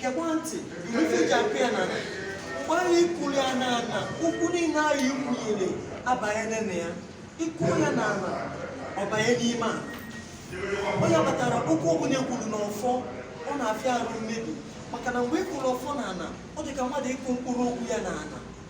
gekwa ntị ife ji akụ ya na ana mgbe ahụ ịkụlụ ya na ana okwu niile ahụ ikwunyere abanye n'ime ya ịkụ ya na ana ọ banye n'ime ana ọ ya kpatara okwu ọbụla ekwuru na ọfọ ọ na-afịa arụ mmebi maka na mgbe ịkụrụ ọfọ na ana ọ dị ka mmadụ ịkụ mkpụrụ okwu ya na ana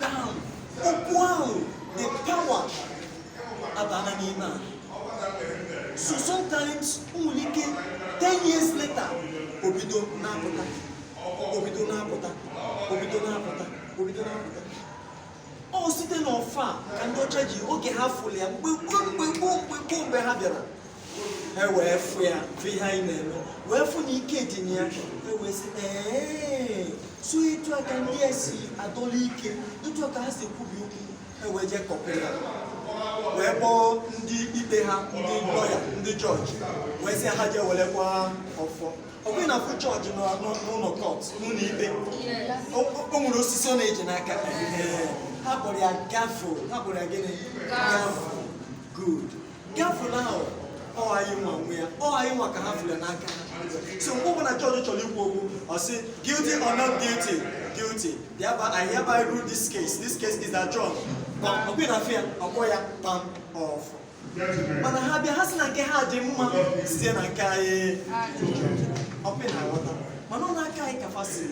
down okwu ahụ the power abana n'ime ya so sometimes nwere ike 10 years later obido na-apụta obido na-apụta obido na-apụta obido na-apụta ọ site n'ọfọ a ka ndị ọcha ji oge ha fụrụ ya mgbe gboo mgbe gboo mgbe gboo mgbe ha bịara ha wee fụ ya fụ ihe anyị na-eme wee fụ na ike dị na ya ha wee sị ee so etu aka ndị a si adọla ike etu aka ha si ekwubi okwu ha wee jee copy ya wee kpọọ ndị ikpe ha ndị lawyer ndị judge wee sị ha jee werekwa ọfọ ọkwa ị na-afụ judge nọ nọ- n'ụlọ court n'ụlọ ikpe o o nwere osisi ọ na-eji n'aka Ee, ha kpọrọ ya gavel ha kpọrọ ya gịnị gavel good gavel ahụ ọ anyị nwa nwe ya ọ anyị nwa ka ha fụrụ n'aka ha so mgbe ọbụla judge chọrọ ikwu okwu ọ sị guilty or not guilty guilty thereby I hereby rule this case this case is adjourned pam ọkwa ị na-afụ ya ọ kpọọ ya pam ọfọ mana ha bịa ha sị na nke ha dị mma site na nke anyị ọkwa ị na-aghọta mana ọ n'aka anyị ka fa si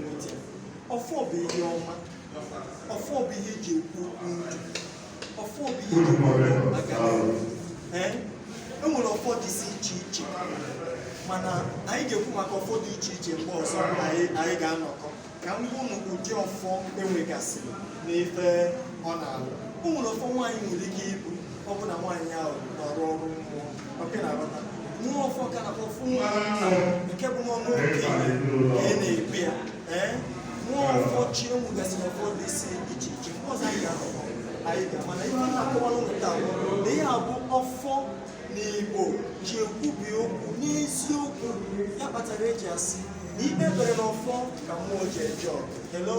nweta ọfọ bụ ihe ọma ọfọ bụ ihe eji ekwu okwu ndụ ọfọ bụ ihe aga ee e nwere ọfọ dịsị iche iche mana anyị ga-ekwu maka ọfọ dị iche iche mgbe ọzọ ọbụla anyị ga-anọkọ ka m gwa unu ụdị ọfọ enwegasịrị na ife ọ na-alụ o nwere ọfọ nwaanyị nwere ike ibu ọ bụ na nwaanyị ahụ na-arụ ọrụ mmụọ nke bụ n'ọnụ okenye ka a na-ekpe ya nwa ọfọ chi enwegasịrị ọfọ dịsị iche iche mgbe ọzọ anyị ga-anọkọ anyị ga mana ihe m na-akọwara unu taa na ihe a bụ ọfọ na Igbo ji ekwubi okwu n'eziokwu ya kpatara eji asị na ikpe bere n'ọfọ ka mmụọ ji eje ọgụ hello